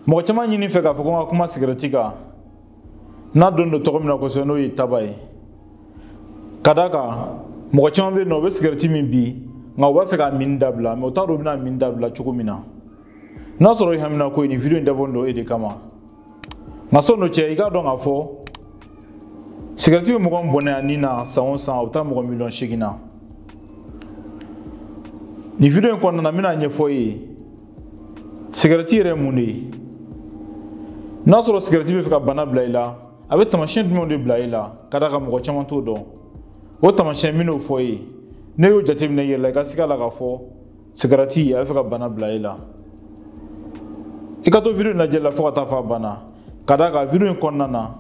mɔgɔ caman ɲini n fɛ k'a fɔ ko n ka kuma sigɛrɛti kan n'a dɔnnen don tɔgɔ min na kosɛbɛ n'o ye taba ye ka d'a kan mɔgɔ caman bɛ yen nɔ u bɛ sigɛrɛti min bi nka u b'a fɛ k'a min dabila mɛ u t'a dɔn u bɛn'a min dabila cogo min na n'a sɔrɔ i haminanko ye nin video in dabɔlen don e de kama nka sɔni o cɛ i k'a dɔn k'a fɔ sigɛrɛti bɛ mɔgɔ min bɔnɛ a ni na san o san a bɛ taa mɔgɔ miliyɔn seegin na nin video in kɔnɔna na n bɛn'a ɲɛfɔ i ye sigarɛti yɛrɛ ye mun de ye n'a sɔrɔ sigarɛti bɛ fɛ ka bana bila i la a bɛ taamasiyɛn jumɛnw de bila i la ka d'a kan mɔgɔ caman t'o dɔn o taamasiyɛn n bɛn'o fɔ i ye n'e y'o jateminɛ i yɛrɛ la i ka siga la k'a fɔ sigarɛti a bɛ fɛ ka bana bila i la i ka to video in lajɛ la fo ka taa fɔ a banna ka d'a kan video in kɔnɔna na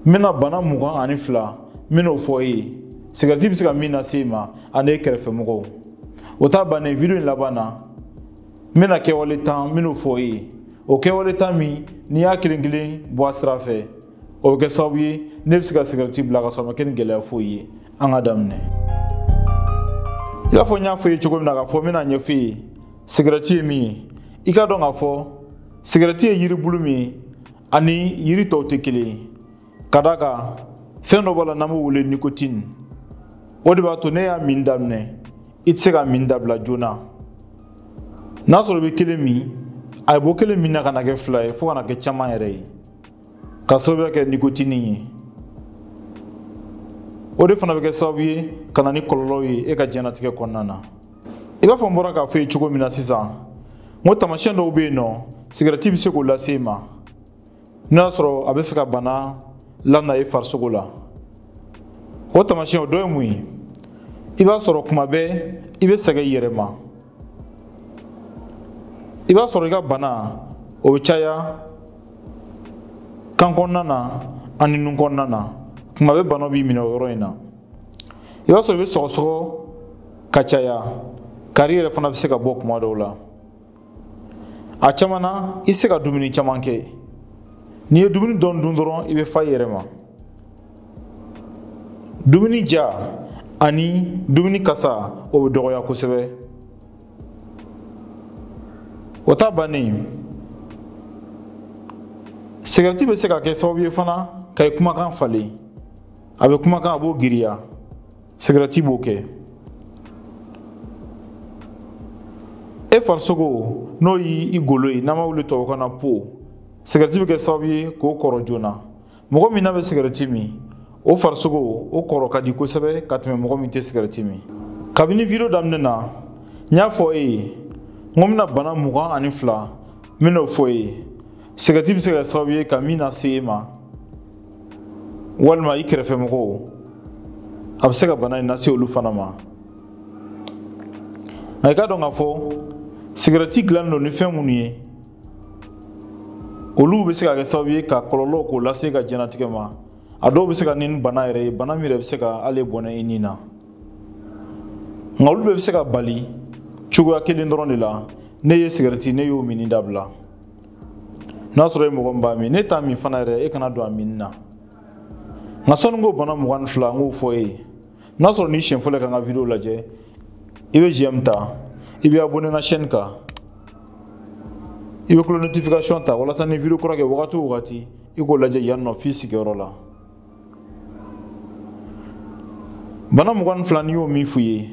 n bɛna bana mugan ani fila n bɛn'o fɔ e ye sigɛrɛti bɛ se ka min lase e ma ani e kɛrɛfɛmɔgɔw o ta bannen video in laban na n bɛna kɛwale tan n bɛn'o fɔ e ye o kɛwale tan min n'i y'a kelen kelen bɔ a sira fɛ o bɛ kɛ sababu ye n'e bɛ se ka sigɛrɛti bila ka sɔrɔ a ma kɛ ni gɛlɛya foyi ye an ka daminɛ i b'a fɔ n y'a fɔ i ye cogo min na k'a fɔ n bɛn'a ɲɛfɔ i ye sigɛrɛti ye min ye i k'a dɔn k'a fɔ sigɛrɛti ye yiribulu min ye ani yiri tɔw tɛ kelen ye ka d'a kan fɛn dɔ b'a la n'an b'o wele nikotini o de b'a to n'e y'a min daminɛ i tɛ se k'a min dabila joona n'a sɔrɔ i bɛ kelen min a bɔ kelen min na ka na kɛ fila ye fo ka na kɛ caman yɛrɛ ye k'a sababuya kɛ nikotini ye o de fana bɛ kɛ sababu ye ka na ni kɔlɔlɔw ye e ka diɲɛnatigɛ kɔnɔna na i b'a fɔ n bɔra k'a fɔ i ye cogo min na sisan n ko taamasiyɛn dɔw bɛ yen nɔ sigɛrɛti bɛ se k'o lase i ma n'o y'a sɔrɔ a bɛ fɛ ka bana lana i farisogo la o taamasiyɛn o dɔ ye mun ye i b'a sɔrɔ kuma bɛɛ i bɛ sɛgɛn i yɛrɛ ma i b'a sɔrɔ i ka bana o bɛ caya kan kɔnɔna na ani nun kɔnɔna na kuma bɛɛ bana b'i minɛ o yɔrɔ in na i b'a sɔrɔ i bɛ sɔgɔsɔgɔ ka caya kari yɛrɛ fana bɛ se ka bɔ kuma dɔw la a caman na i tɛ se ka dumuni caman kɛ n'i ye dumuni dɔɔni dun dɔrɔn i bɛ fa i yɛrɛ ma dumuni ja ani dumuni kasa o bɛ dɔgɔya kosɛbɛ o ta bannen sigɛrɛti bɛ se ka kɛ sababu ye fana ka i kumakan falen a bɛ kumakan a b'o giriya sigɛrɛti b'o kɛ e farisogo n'o y'i golo ye n'an b'a wele tubabukan na peau sigɛrɛti bɛ kɛ sababu ye k'o kɔrɔ joona mɔgɔ min n'a bɛ sigɛrɛti min o farisogo o kɔrɔ ka di kosɛbɛ ka tɛmɛ mɔgɔ min tɛ sigɛrɛti min kabini video daminɛ na n y'a fɔ e ye n ko n bɛna bana mugan ani fila n bɛn'o fɔ e ye sigɛrɛti bɛ se ka kɛ sababu ye ka min lase e ma walima i kɛrɛfɛ mɔgɔw a bɛ se ka bana in lase olu fana ma nka i k'a dɔn k'a fɔ sigɛrɛti dilannen don ni fɛn minnu ye olu bɛ se ka kɛ sababu ye ka kɔlɔlɔ k'o lase ka diɲɛnatigɛ ma a dɔw bɛ se ka na ni bana yɛrɛ ye bana min yɛrɛ bɛ se ka hali bɔnɛ i ni na nka olu bɛɛ bɛ se ka bali cogoya kelen dɔrɔn de la n'e ye sigɛrɛti n'e y'o min dabila n'a sɔrɔ e mɔgɔ min b'a min n'e t'a min fana yɛrɛ e kana don a minni na nka sɔnni ko bana mugan ni fila n k'o fɔ e ye n'a sɔrɔ n'i siɲɛ fɔlɔ ka n ka video lajɛ i bɛ j'aime ta i bɛ abonné n ka chaîne kan i bɛ cloche notification ta walasa ni video kura kɛ wagati o wagati i k'o lajɛ yan nɔ f'i sigiyɔrɔ la bana mugan ni fila n y'o min f'u ye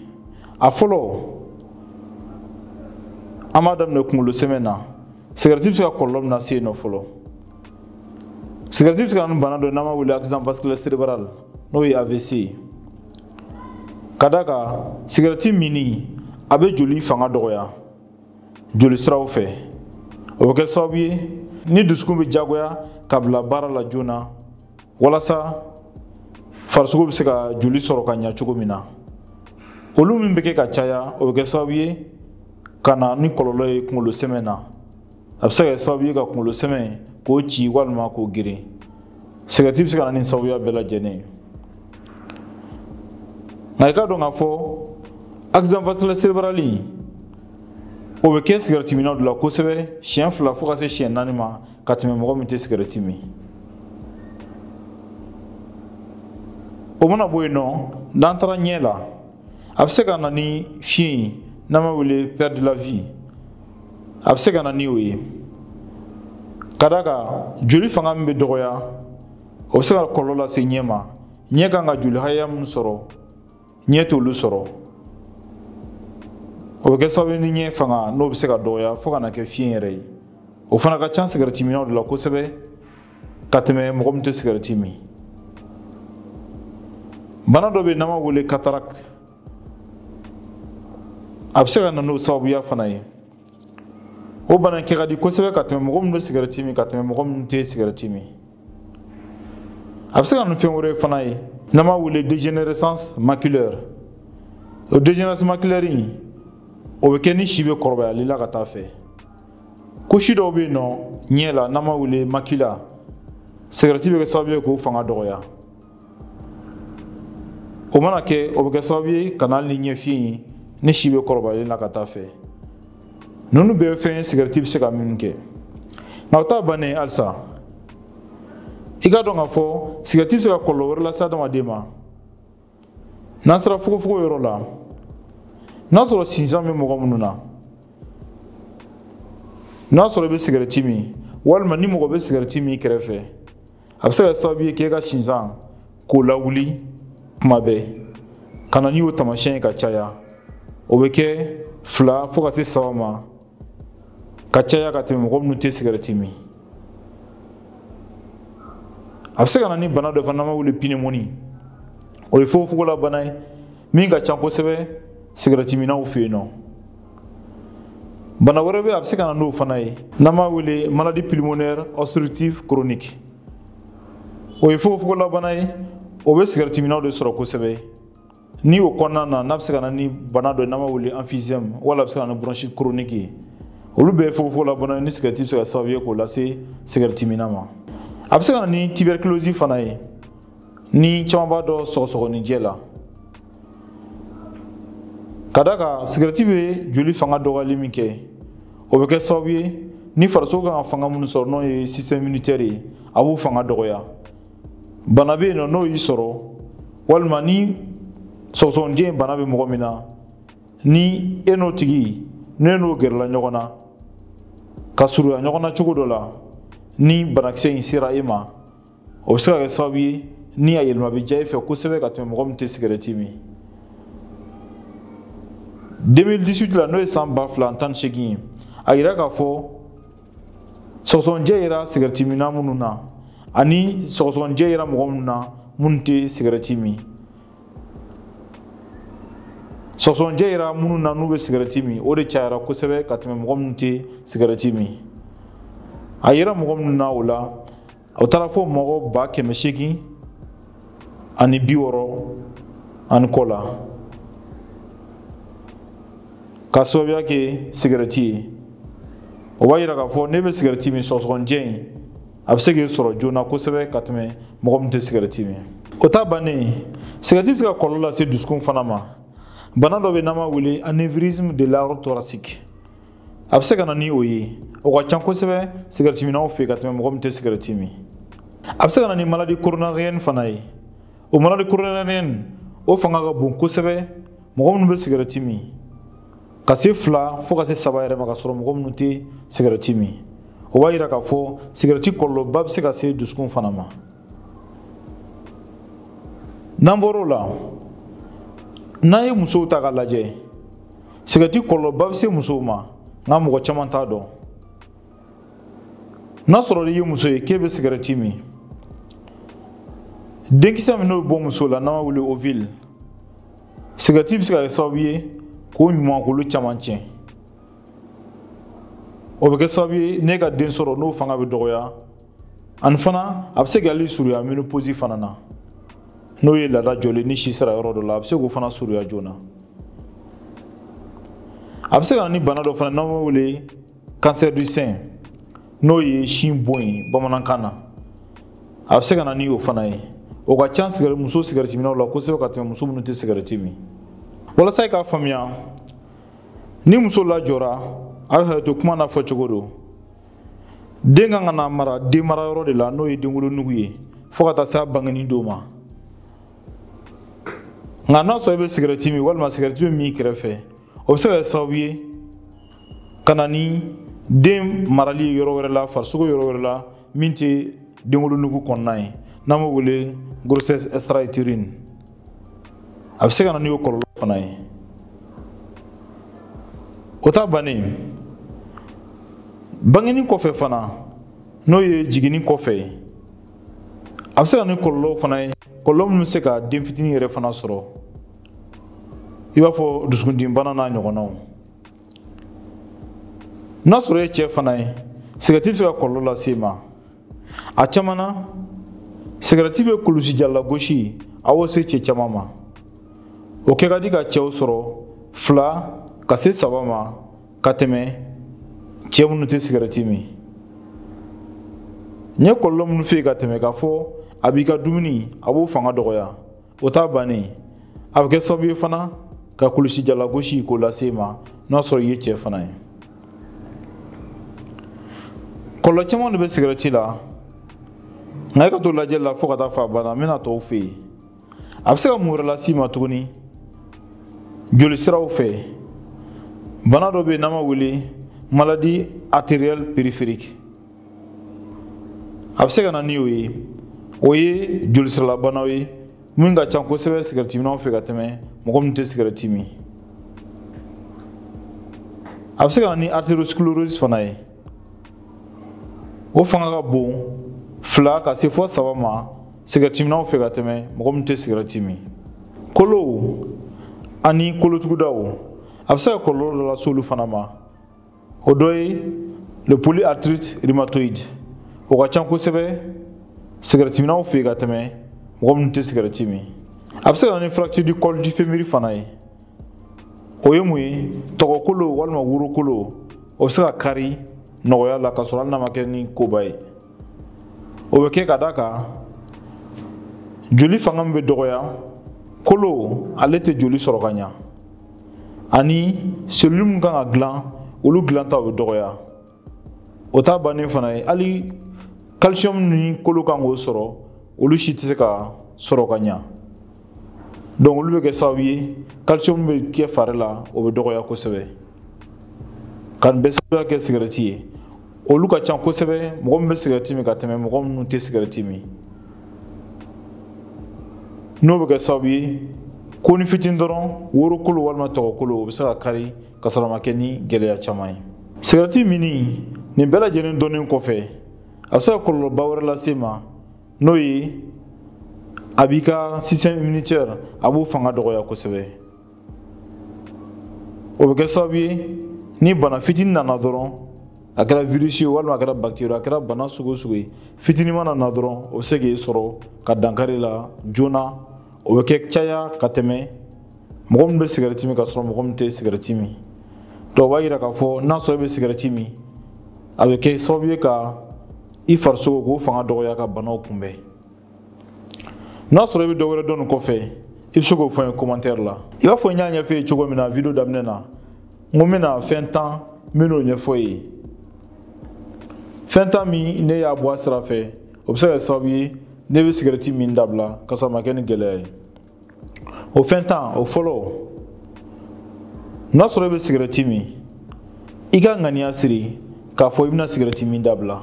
a fɔlɔ an b'a daminɛ kunkolo sɛmɛ na sigarɛti bɛ se ka kɔlɔlɔ min lase yen nɔ fɔlɔ sigarɛti bɛ se ka na ni bana dɔ ye n'an b'a wele accident vasculaire cérébral n'o ye avc ye ka d'a kan sigarɛti minni a bɛ joli fanga dɔgɔya joli siraw fɛ o bɛ kɛ sababu ye ni dusukun bɛ jagoya ka bila baara la joona walasa farisogo bɛ se ka joli sɔrɔ ka ɲa cogo min na olu min bɛ kɛ ka caya o bɛ kɛ sababu ye ka na ni kɔlɔlɔ ye kunkolo sɛmɛ na a bɛ se ka kɛ sababu ye ka kunkolo sɛmɛ k'o ci walima k'o geren sigɛrɛti bɛ se ka na ni sababuya bɛɛ lajɛlen ye nka i k'a dɔn k'a fɔ accident vasculaire cérébral in o bɛ kɛ sigɛrɛti minnaw de la kosɛbɛ siɲɛ fila fo ka se siɲɛ naani ma ka tɛmɛ mɔgɔ min tɛ sigɛrɛti min o mana bɔ yen nɔ n'an taara ɲɛ la a bɛ se ka na ni fiɲɛ ye n'an b'a wele perte de la vue a bɛ se ka na ni o ye ka d'a kan joli fanga min bɛ dɔgɔya o bɛ se ka kɔlɔlɔ lase ɲɛ ma ɲɛ kan ka joli hakɛya min sɔrɔ ɲɛ t'olu sɔrɔ o bɛ kɛ sababu ni ɲɛ fanga n'o bɛ se ka dɔgɔya fo ka na kɛ fiɲɛ yɛrɛ ye o fana ka ca sigɛrɛti minnaw de la kosɛbɛ ka tɛmɛ mɔgɔ min tɛ sigɛrɛti min bana dɔ bɛ yen n'an b'a wele cataracte a bɛ se ka na n'o sababuya fana ye o bana kɛ ka di kosɛbɛ ka tɛmɛ mɔgɔ min bɛ sigɛrɛti min ka tɛmɛ mɔgɔ min tɛ sigɛrɛti min a bɛ se ka na ni fɛn wɛrɛ fana ye n'an b'a wele dégénérescence maculaire o dégénérescence maculaire in o bɛ kɛ ni si bɛ kɔrɔbayali la ka taa fɛ kosi dɔw bɛ yen nɔ ɲɛ la n'an b'a wele macula sigɛrɛti bɛ kɛ sababu ye k'o fanga dɔgɔya o mana kɛ o bɛ kɛ sababu ye ka na hali ni ɲɛfiyen ye ni si bɛ kɔrɔbayali la ka taa fɛ ninnu bɛɛ fɛn sigɛrɛti bɛ se ka minnu kɛ nka o t'a bannen ye halisa i k'a dɔn k'a fɔ sigɛrɛti bɛ se ka kɔlɔlɔ wɛrɛ lase adamaden ma n'an sera fogofogo yɔrɔ la n'a sɔrɔ sinsan bɛ mɔgɔ minnu na n'a sɔrɔ i bɛ sigɛrɛti min walima ni mɔgɔ bɛ sigɛrɛti min i kɛrɛfɛ a bɛ se ka sababu ye k'e ka sinsan k'o lawuli kuma bɛɛ ka na ni o taamasiyɛn ye ka caya o bɛ kɛ fila fo ka se saba ma ka caya ka tɛmɛ mɔgɔ minnu tɛ sigɛrɛti min a bɛ se ka na ni bana dɔ fana n'an b'a wele pneumonie o ye fogofogola bana ye min ka ca kosɛbɛ sigɛrɛtiminnaw fɛ yen nɔ bana wɛrɛ bɛ a bɛ se ka na n'o fana ye n'an b'a wele maladie pulmonaire obstructive chronique o ye fogofogolabana ye o bɛ sigɛritiminnaw de sɔrɔ kosɛbɛ ni o kɔnɔna na n'a bɛ se ka na ni bana dɔ ye n'an b'a wele emphysème wala a bɛ se ka na ni bronchite chronique ye olu bɛɛ ye fogofogolabana ye ni sigɛriti bɛ se ka sababu ye k'o lase sigɛritiminna ma a bɛ se ka na ni tuberculose fana ye ni caman b'a dɔn sɔgɔsɔgɔninjɛ la ka d'a kan sigɛrɛti bɛ joli fanga dɔgɔyali min kɛ o bɛ kɛ sababu ye ni farisogo kan ka fanga minnu sɔrɔ n'o ye système immunitaire ye a b'o fanga dɔgɔya bana bɛ yen nɔ n'o y'i sɔrɔ walima ni sɔgɔsɔgɔnijɛ bana bɛ mɔgɔ min na ni e n'o tigi n'e n'o gɛrɛla ɲɔgɔn na ka surunya ɲɔgɔn na cogo dɔ la ni banakisɛ in sera e ma o bɛ se ka kɛ sababu ye ni a yɛlɛma bɛ diya e fɛ kosɛbɛ ka tɛmɛ mɔgɔ min tɛ sigɛrɛti min 2018 la n'o ye san ba fila tan ni seegin ye a yira k'a fɔ sɔgɔsɔgɔnijɛ yera sigɛrɛti minna minnu na ani sɔgɔsɔgɔnijɛ yera mɔgɔ minnu na minnu tɛ sigɛrɛti min sɔgɔsɔgɔnijɛ yera minnu na n'u bɛ sigɛrɛti min o de cayara kosɛbɛ ka tɛmɛ mɔgɔ minnu tɛ sigɛrɛti min a yera mɔgɔ minnu na o la o taara fo mɔgɔ ba kɛmɛ seegin ani bi wɔɔrɔ ani kɔ la ka sababuya kɛ sigɛrɛti ye o b'a yira k'a fɔ n'e bɛ sigɛrɛti min sɔgɔsɔgɔnijɛ in a bɛ se k'i sɔrɔ joona kosɛbɛ ka tɛmɛ mɔgɔ minnu tɛ sigɛrɛti min o ta bannen sigɛrɛti bɛ se ka kɔlɔlɔ lase dusukun fana ma bana dɔ bɛ n'an b'a wele anévrisme de l'aorte thoracique a bɛ se ka na ni o ye o ka ca kosɛbɛ sigɛrɛtiminnaw fɛ ka tɛmɛ mɔgɔ minnu tɛ sigɛrɛti min a bɛ se ka na ni maladie coronarienne fana ye o maladie coronarienne o fanga ka bon kosɛbɛ mɔgɔ minnu bɛ sigɛrɛti min ka se fila fo ka se saba yɛrɛ ma ka sɔrɔ mɔgɔ minnu tɛ sigɛrɛti min o b'a yira k'a fɔ sigɛrɛti kɔlɔlɔba bɛ se ka se dusukun fana ma n'an bɔr'o la n'an ye musow ta k'a lajɛ sigɛrɛti kɔlɔlɔba bɛ se musow ma nka mɔgɔ caman t'a dɔn n'a sɔrɔ i ye muso ye k'e bɛ sigɛrɛti min denkisɛ min n'o bɛ bɔ muso la n'an b'a wele ovule sigɛrɛti bɛ se ka kɛ sababu ye k'o ɲumankolo caman tiɲɛ o bɛ kɛ sababu ye n'e ka den sɔrɔ n'o fanga bɛ dɔgɔya ani fana a bɛ se k'ale suruya ménopause fana na n'o ye laada jɔlen ni si sera yɔrɔ dɔ la a bɛ se k'o fana suruya joona a bɛ se ka na ni bana dɔ fana n'an b'o wele cancer du sein n'o ye sin bon ye bamanankan na a bɛ se ka na ni o fana ye o ka ca sigɛrɛ muso sigɛrɛtiminnaw la kosɛbɛ ka tɛmɛ muso minnu tɛ sigɛrɛti min walasa i k'a faamuya ni muso lajɔra a bɛ hakɛto kuma n'a fɔcogo don den kan ka na mara den mara yɔrɔ de la n'o ye denwolonugu ye fo ka taa se a bangenni don ma nka n'a sɔrɔ i bɛ sigɛrɛti min walima sigɛrɛti bɛ min i kɛrɛfɛ o bɛ se ka kɛ sababu ye ka na ni den marali ye yɔrɔ wɛrɛ la farisogo yɔrɔ wɛrɛ la min tɛ denwolonugu kɔnɔna ye n'an b'o wele grossesse extra-utérine a bɛ se ka na n'o kɔlɔlɔ fana ye o ta bannen bangeni kɔfɛ fana n'o ye jiginni kɔfɛ ye a bɛ se ka na ni kɔlɔlɔw fana ye kɔlɔlɔ minnu bɛ se ka den fitinin yɛrɛ fana sɔrɔ i b'a fɔ dusukundimibana n'a ɲɔgɔnnaw n'a sɔrɔ i ye cɛ fana ye sigɛrɛti bɛ se ka kɔlɔlɔ lase i ma a caman na sigarɛti bɛ kulusijalagosi a b'o se cɛ caman ma o kɛ ka di ka cɛw sɔrɔ fila ka se saba ma ka tɛmɛ cɛ minnu tɛ sigarɛti min n ye kɔlɔlɔ minnu fɔ i ye ka tɛmɛ k'a fɔ a b'i ka dumuni a b'o fanga dɔgɔya o t'a bannen a bɛ kɛ sababu ye fana ka kulusijalagosi k'o lase i ma n'a sɔrɔ i ye cɛ fana ye kɔlɔlɔ caman de bɛ sigɛrɛti la nka e ka to lajɛli la fo ka taa fo a ban na n bɛna tɔw fɔ i ye a bɛ se ka mun wɛrɛ lase i ma tuguni jolisiraw fɛ bana dɔ bɛ yen n'an b'a wele maladie artérielle périphérique a bɛ se ka na ni o ye o ye jolisiralabanaw ye min ka ca kosɛbɛ sigɛrɛtiminnaw fɛ ka tɛmɛ mɔgɔ min tɛ sigɛrɛti min a bɛ se ka na ni artériosclérose fana ye o fanga ka bon fila ka se fo saba ma sigɛrɛtiminnaw fɛ ka tɛmɛ mɔgɔ min tɛ sigɛrɛti min kolow ani kolotugudaw a bɛ se ka kɔlɔlɔ dɔ lase olu fana ma o dɔ ye le polyarthrite rhumatoïde o ka can kosɛbɛ sigɛrɛtiminnaw fɛ ka tɛmɛ mɔgɔ minnu tɛ sigɛrɛti min a bɛ se ka na ni fracture du col du fémur fana ye o ye mun ye tɔgɔkolo walima worokolo o bɛ se ka kari nɔgɔya la ka sɔrɔ hali n'a ma kɛ ni koba ye o bɛ kɛ ka d'a kan joli fanga min bɛ dɔgɔya kolo ale tɛ joli sɔrɔ ka ɲa ani selulu min kan ka dilan olu dilanta o bɛ dɔgɔya o t'a bannen fana ye hali calcium ni kolo kan k'o sɔrɔ olu si tɛ se ka sɔrɔ ka ɲa donc olu bɛ kɛ sababu ye calcium bɛ kɛ fari la o bɛ dɔgɔya kosɛbɛ ka nin bɛɛ sababuya kɛ sigɛrɛti ye olu ka ca kosɛbɛ mɔgɔ min bɛ sigɛrɛti min ka tɛmɛ mɔgɔ minnu tɛ sigɛrɛti min n'o bɛ kɛ sababu ye konin fitini dɔrɔn worokolo walima tɔgɔkolo o bɛ se ka kari ka sɔrɔ a ma kɛ ni gɛlɛya caman ye sigɛrɛti minni nin bɛɛ lajɛlen dɔnnen kɔfɛ a bɛ se ka kɔlɔlɔba wɛrɛ lase i ma n'o ye a b'i ka système immunitaire a b'o fanga dɔgɔya kosɛbɛ o bɛ kɛ sababu ye ni bana fitini nana dɔrɔn a kɛra virisi ye walima a kɛra bakiteri a kɛra bana sugu o sugu ye fitini mana na dɔrɔn o bɛ se k'i sɔrɔ ka dankari i la joona o bɛ kɛ caya ka tɛmɛ mɔgɔ min bɛ sigɛrɛti min ka sɔrɔ mɔgɔ min tɛ sigɛrɛti min donc o b'a yira k'a fɔ n'a sɔrɔ i bɛ sigɛrɛti min a bɛ kɛ sababu ye ka i farisogo k'o fanga dɔgɔya ka banaw kunbɛn n'a sɔrɔ i bɛ dɔ wɛrɛ dɔn nin kɔfɛ i bɛ se k'o fɔ n ye commentaire la i b'a fɔ n y'a ɲɛfɔ i ye cogo min na video daminɛ na n ko n bɛna fɛn tan n bɛn'o ɲɛfɔ i ye fɛn tan min n'i y'a bɔ a sira fɛ o bɛ se ka kɛ sababu ye n'i bɛ sigɛrɛti min dabila ka sɔrɔ a ma kɛ ni gɛlɛya ye o fɛn tan o fɔlɔ n'a sɔrɔ i bɛ sigɛrɛti min i ka ŋaniya siri k'a fɔ i bɛna sigɛrɛti min dabila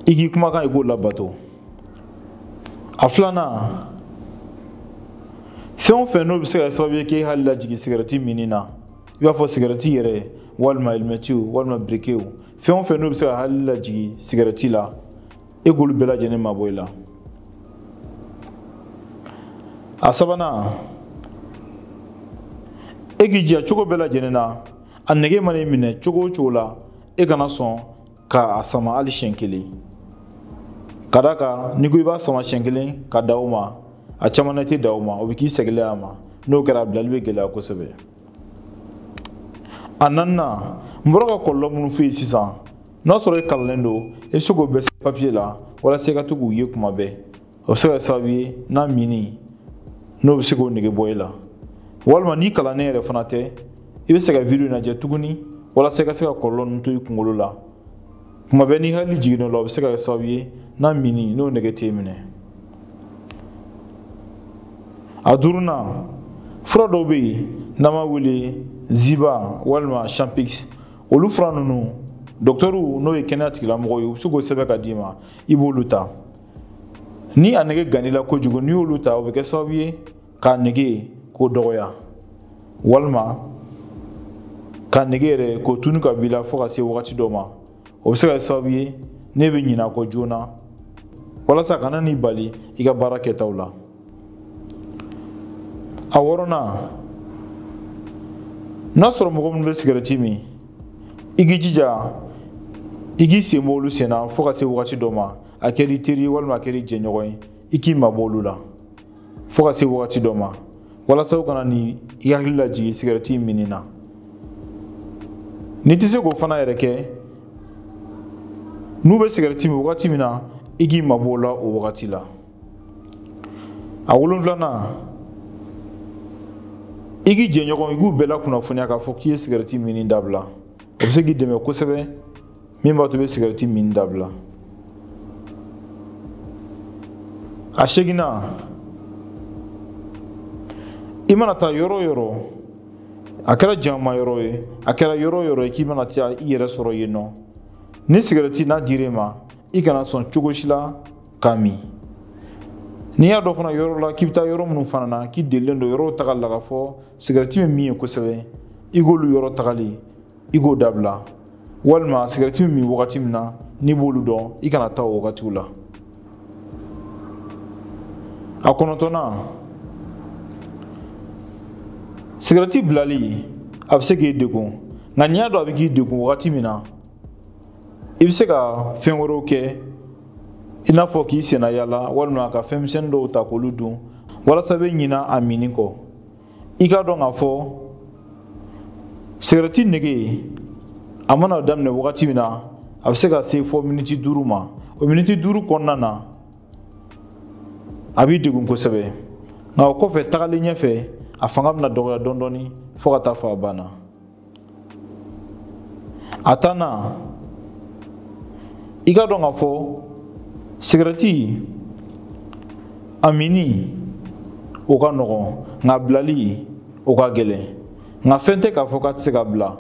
i k'i kumakan i k'o labato a filanan fɛn o fɛn n'o bɛ se ka kɛ sababu ye k'e hakili lajigin sigɛrɛti minni na i b'a fɔ sigɛrɛti yɛrɛ walima alimɛtiw walima birikɛw fɛn o fɛn n'o bɛ se k'i hakili lajigin sigɛrɛti la e k'olu bɛɛ lajɛlen mabɔ i la a sabanan e k'i jija cogo bɛɛ lajɛlen na a nege mana i minɛ cogo o cogo la e kana sɔn ka a sama hali siɲɛ kelen ka d'a kan n'i ko i b'a sama siɲɛ kelen ka dan o ma a caman na i tɛ dan o ma o bɛ k'i seginnen a ma n'o kɛra a bilali bɛ gɛlɛya kosɛbɛ a naaninan n bɔra ka kɔlɔlɔ minnu f'e ye sisan n'a sɔrɔ e kalannen don i bɛ se k'o bɛɛ sɛbɛn papiye la walasa i ka to k'u ye kuma bɛɛ o bɛ se ka kɛ sababu ye n'a minni n'o bɛ se k'o nege bɔ i la walima n'i kalannen yɛrɛ fana tɛ i bɛ se ka video lajɛ tuguni walasa i ka se ka kɔlɔlɔ ninnu to i kunkolo la kuma bɛɛ n'i hakili jiginn'o la o bɛ se ka kɛ sababu ye n'a minni n'o nege t'e minɛ a duurunan fura dɔw bɛ yen n'an b'a wele zyban walima champix olu fura ninnu dɔkitɛriw n'o ye kɛnɛya tigilamɔgɔw ye u bɛ se k'o sɛbɛn ka d'i ma i b'olu ta ni a nege gannila kojugu n'i y'olu ta o bɛ kɛ sababu ye k'a nege k'o dɔgɔya walima k'a nege yɛrɛ k'o tunu ka b'i la fo ka se wagati dɔ ma o bɛ se ka kɛ sababu ye n'e bɛ ɲinɛ a kɔ joona walasa a kana n'i bali i ka baara kɛtaw la a wɔɔrɔnan n'a sɔrɔ mɔgɔ minnu bɛ sigɛrɛti min i k'i jija i k'i sen bɔ olu sen na fo ka se wagati dɔ ma a kɛr'i teri walima a kɛr'i jɛɲɔgɔn ye i k'i mabɔ olu la fɔɔ ka se wagati dɔ ma walasa u kana ni i hakili lajigin sigɛrɛti minni na n'i tɛ se k'o fana yɛrɛ kɛ n'u bɛ sigɛrɛti min wagati min na i k'i mabɔ o la o wagati la a wolonfilanan i k'i jɛɲɔgɔn i k'u bɛɛ lakunnafoniya k'a fɔ k'i ye sigɛrɛti minni dabila o bɛ se k'i dɛmɛ kosɛbɛ min b'a to i bɛ sigɛrɛti min dabila a seeginnan i mana taa yɔrɔ o yɔrɔ a kɛra jama yɔrɔ ye a kɛra yɔrɔ o yɔrɔ ye k'i mana taa i yɛrɛ sɔrɔ yen nɔ ni sigɛrɛti n'a dir'e ma i kana sɔn cogo si la k'a min n'i y'a dɔn fana yɔrɔ la k'i bɛ taa yɔrɔ minnu fana na k'i delilen don yɔrɔw taga la k'a fɔ sigɛrɛti bɛ min yen kosɛbɛ i k'olu yɔrɔ tagali i k'o dabila walima sigɛrɛti bɛ min wagati min na n'i b'olu dɔn i kana taa o wagatiw la a kɔnɔntɔnnan sigɛrɛti bilali a bɛ se k'i degun nka n'i y'a dɔn a bɛ k'i degun wagati min na i bɛ se ka fɛn wɛrɛw kɛ i n'a fɔ k'i sennayaala walima ka fɛn misɛnnin dɔw ta k'olu dun walasa i bɛ ɲina a minni kɔ i k'a dɔn k'a fɔ sigarɛti nege a mana daminɛ wagati min na a bɛ se ka se fo miniti duuru ma o miniti duuru kɔnɔna na a b'i degun kosɛbɛ nka o kɔfɛ tagalen ɲɛfɛ a fanga bɛna dɔgɔya dɔɔni dɔɔni fo ka taa fɔ a banna a tannan i k'a dɔn k'a fɔ sigɛrɛti a minni o ka nɔgɔn nka bilali o ka gɛlɛn nka fɛn tɛ k'a fɔ k'a tɛ se ka bila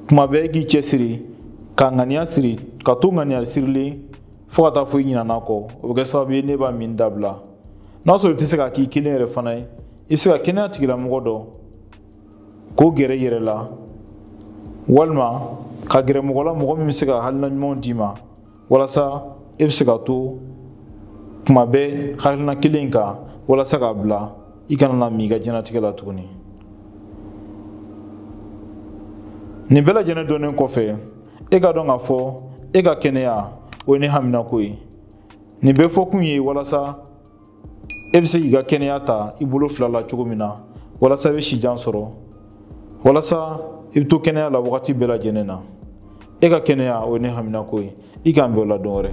kuma bɛɛ i k'i cɛsiri ka ŋaniya siri ka to ŋaniya sirilen fo ka taa fɔ i ɲinan'a kɔ o bɛ kɛ sababu ye n'e b'a minni dabila n'a sɔrɔ i tɛ se k'a k'i kelen yɛrɛ fana ye i bɛ se ka kɛnɛya tigilamɔgɔ dɔ k'o gɛrɛ i yɛrɛ la walima ka gɛrɛ mɔgɔ la mɔgɔ min bɛ se ka hakilina ɲumanw d'i ma walasa e bɛ se ka to tuma bɛɛ hakilina kelen kan walasa k'a bila i kana n'a min i ka diɲɛnatigɛ la tuguni nin bɛɛ lajɛlen dɔnnen kɔfɛ e k'a dɔn k'a fɔ e ka kɛnɛya o ye ne haminako ye nin bɛɛ fɔkun ye walasa e bɛ se k'i ka kɛnɛya ta i bolo fila la cogo min na walasa i bɛ sijan sɔrɔ walasa i bɛ to kɛnɛya la wagati bɛɛ lajɛlen na e ka kɛnɛya o ye ne haminako ye i k'an bɛn o la don wɛrɛ